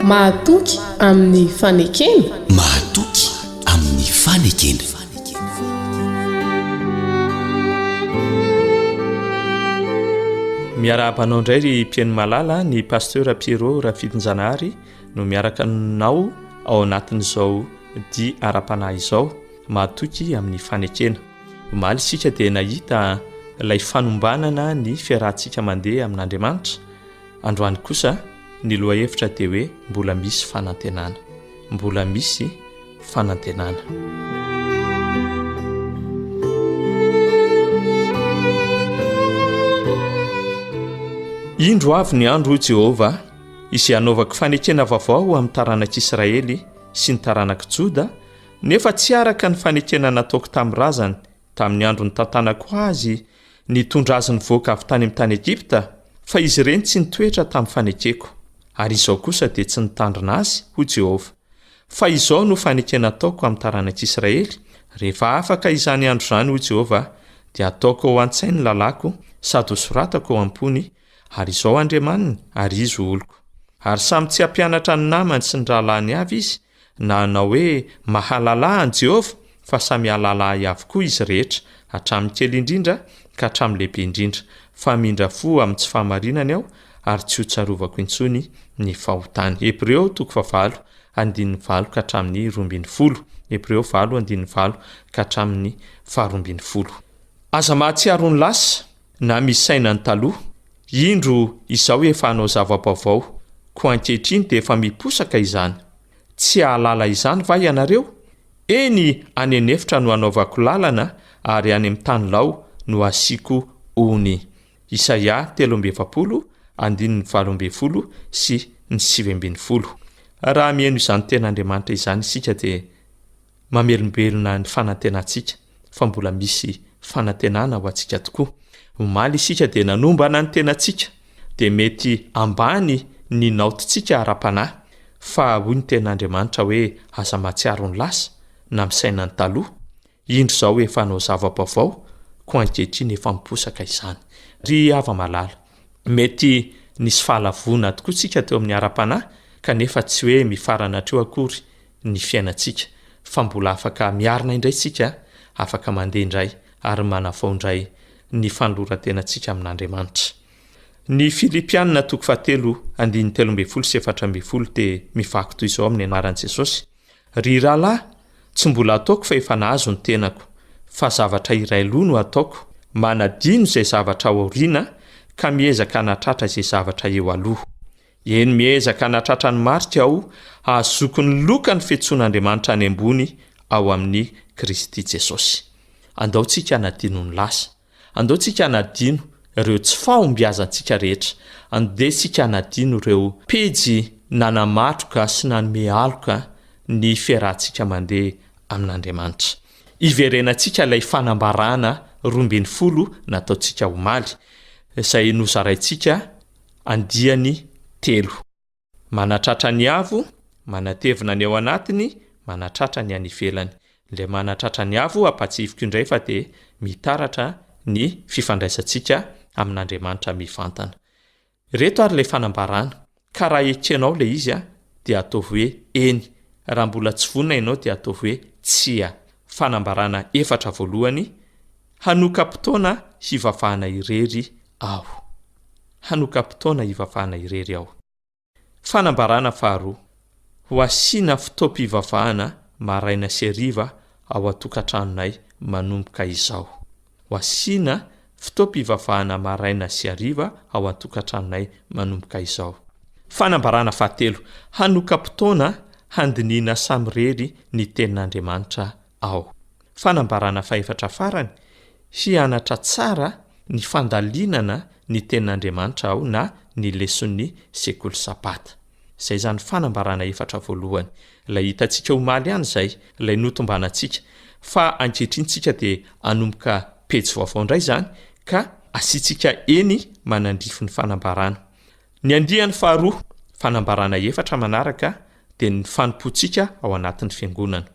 Mahatoky amin'ny fanekena? Mahatoky amin'ny fanekena. Miarahaba anao indray ry mpihaino malala ny pasteur Pierrot Rafidinjanahary no miaraka aminao ao anatin'izao dia ara-panahy izao mahatoky amin'ny fanekena. Omaly isika dia nahita ilay fanombanana ny fiarahantsika mandeha amin'Andriamanitra, androany kosa ny lohahevitra dia hoe mbola misy fanantenana. Mbola misy fanantenana. Indro avy ny andro, hoy Jehovah, izay hanaovako fanekena vaovao amin'ny taranak'Israely sy ny taranak'i Joda, Nefa tsy araka ny fanekena nataoko tamin'ny razany tamin'ny andro nitantanako azy ny hitondra azy nivoaka avy tany amin'ny tany Egypta, fa izy ireny tsy nitoetra tamin'ny fanekeko, ary izao kosa dia tsy nitandrina azy, hoy Jehovah. Fa izao no fanekena ataoko amin'ny taranak'Israely, Rehefa afaka izany andro izany, hoy Jehovah, dia hataoko ao an-tsainy ny lalàko, sady hosoratako ao am-pony, ary izao Andriamaniny, ary izy ho oloko. Ary samy tsy hampianatra ny namany sy ny rahalahiny avy izy, na hanao hoe mahalala an'i Jehovah, fa samy hahalala ahy avokoa izy rehetra, hatramin'ny kely indrindra ka hatramin'ny lehibe indrindra, fa hamindra fo amin'ny tsy fahamarinany aho, ary tsy hotsarovako intsony ny fahotany. Hebreo toko fahavalo andininy valo ka hatramin'ny roa ambin'ny folo. Hebreo valo andininy valo ka hatramin'ny faharoa ambin'ny folo. Aza mahatsiaro ny lasa, Na misy saina ny taloha, indro izao efa hanao zava-baovao, koa ankehitriny dia efa miposaka izany. Tsy hahalala izany va ianareo? Eny, any an'efitra no hanaovako lalana ary any amin'ny tany lao no hasiako ony. Isaia telo amby efapolo, andininy valo ambin'ny folo sy ny sivy ambin'ny folo. Raha mihaino izany tenin'Andriamanitra izany isika dia mamelombelona ny fanantenantsika fa mbola misy fanantenana ho antsika tokoa. Omaly isika dia nanombana ny tenantsika, dia mety ambany ny naotintsika ara-panahy, fa hoy ny Tenin'Andriamanitra hoe aza mahatsiaro ny lasa, na misaina ny taloha, indro izao efa hanao zava-baovao, koa ankehitriny efa miposaka izany. Ry hava-malala, mety nisy fahalavoana tokoa isika teo amin'ny ara-panahy, kanefa tsy hoe mifarana hatreo akory ny fiainantsika fa mbola afaka miarina indray isika, afaka mandeha indray ary manavao indray ny fanoloran-tenantsika amin'Andriamanitra. Ny Filipiana toko fahatelo andininy telo ambin'ny folo sy efatra ambin'ny folo dia mivaky toy izao amin'ny anaran'i Jesosy, Ry rahalahy, tsy mbola ataoko fa efa nahazo ny tenako, fa zavatra iray loha no ataoko, manadino izay zavatra ao aoriana ka miezaka hanatratra izay zavatra eo aloha. Eny, miezaka hanatratra ny marika aho hahazoako ny lokan'ny fiantsoan'Andriamanitra any ambony ao amin'i Kristy Jesosy. Andao tsika hanadino ny lasa. Andao tsika hanadino ireo tsy fahombiazantsika rehetra. Andeha tsika hanadino ireo pejy nanamatroka sy nanome aloka ny fiarahantsika mandeha amin'Andriamanitra. Iverenantsika ilay fanambarana roa ambin'ny folo nataontsika omaly, izay nozaraintsika Andiany telo. Manatratra ny avo, manatevina ny ao anatiny, manatratra ny any ivelany. Ilay manatratra ny avo, ampahatsihiviko indray fa dia mitaratra ny fifandraisantsika amin'Andriamanitra mivantana. Ireto ary ilay fanambarana, ka raha ekenao ilay izy dia ataovy hoe eny, raha mbola tsy vonona ianao dia ataovy hoe tsia. Fanambarana efatra voalohany, Hanoka-potoana hivavahana irery aho. Hanoka-potoana hivavahana irery aho. Fanambarana faharoa, Ho hasiana fotoam-pivavahana maraina sy hariva ao an-tokantranonay manomboka izao. Ho hasiana fotoam-pivavahana maraina sy hariva ao an-tokantranonay manomboka izao. Fanambarana fahatelo, Hanoka-potoana handinihina samirery ny Tenin'Andriamanitra Ao. Fanambarana fahefatra farany, Hianatra tsara ny fandalinana ny Tenin'Andriamanitra aho na ny leson'ny Sekoly Sabata. Izay izany fanambarana efatra voalohany, ilay hitantsika omaly ihany izay, ilay notombanantsika, fa ankehitriny isika dia hanomboka pejy vaovao indray izany ka asiantsika eny manandrify ny fanambarana. Ny andiany faharoa, fanambarana efatra manaraka dia ny fanompoantsika ao anatin'ny Fiangonana.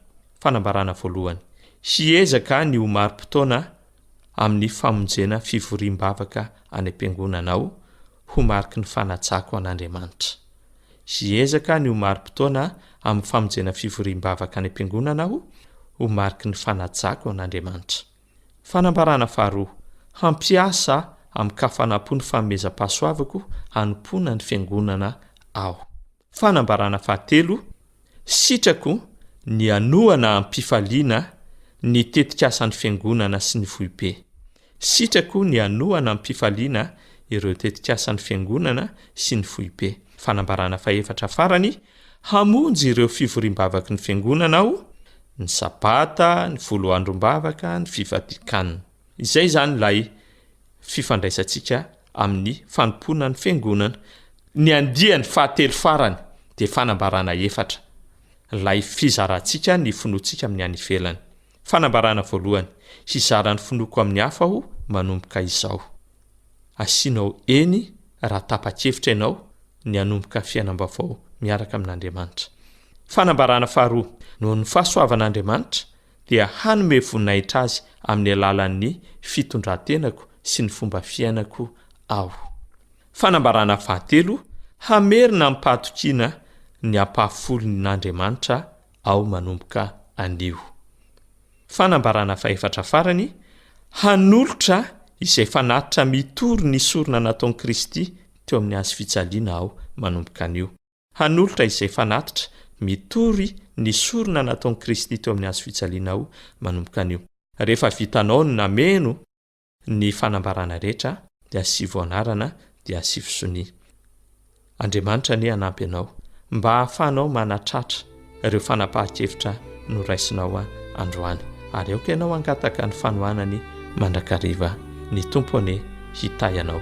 Fanambarana voalohany, hiezaka ny ho mari-potoana amin'ny famonjena fivoriam-bavaka any am-piangonana aho ho mariky ny fanajako an'Andriamanitra. Hiezaka ny ho mari-potoana amin'ny famonjena fivoriam-bavaka any am-piangonana aho ho mariky ny fanajako an'Andriamanitra. Fanambarana faharoa, Hampiasa amin-kafanam-po ny fanomezam-pahasoavako hanompoana ny Fiangonana aho. Fanambarana fahatelo, Sitrako ny hanohana am-pifaliana ny tetikasan'ny Fiangonana sy ny Foibe. Sitrako ny hanohana am-pifaliana ireo tetikasan'ny Fiangonana sy ny Foibe. Fanambarana fahefatra farany, Hamonjy ireo fivoriam-bavaky ny Fiangonana aho, ny Sabata, ny Folo Androm-bavaka, ny Fivadikan. Izay izany ilay fifandraisantsika amin'ny fanompoana ny Fiangonana. Ny andiany fahatelo farany dia fanambarana efatra, ilay fizarantsika ny finoantsika amin'ny any ivelany. Fanambarana voalohany, Hizara ny finoako amin'ny hafa aho manomboka izao. Asianao eny raha tapa-kevitra ianao ny hanomboka fiainam-baovao miaraka amin'Andriamanitra. Fanambarana faharoa, Noho ny fahasoavan'Andriamanitra, dia hanome voninahitra Azy amin'ny alalan'ny fitondran-tenako sy ny fomba fiainako aho. Fanambarana fahatelo, Hamerina amim-pahatokiana ny ampahafolon'Andriamanitra ao manomboka anio. Fanambarana fahefatra farany, Hanolotra izay fanatitra mitory ny sorona nataon'i Kristy teo amin'ny Hazo fijaliana aho manomboka anio. Hanolotra izay fanatitra mitory ny sorona nataon'i Kristy teo amin'ny Hazo fijaliana aho manomboka anio. Rehefa vitanao ny nameno, Ny fanambarana rehetra dia sivy anarana dia sivy sonia. Andriamanitra anie hanampy anao mba hahafahanao manatratra ireo fanapahan-kevitra noraisinao androany ary aoka ianao hangataka ny fanohanany mandrakariva. Ny Tompo anie hitahy anao.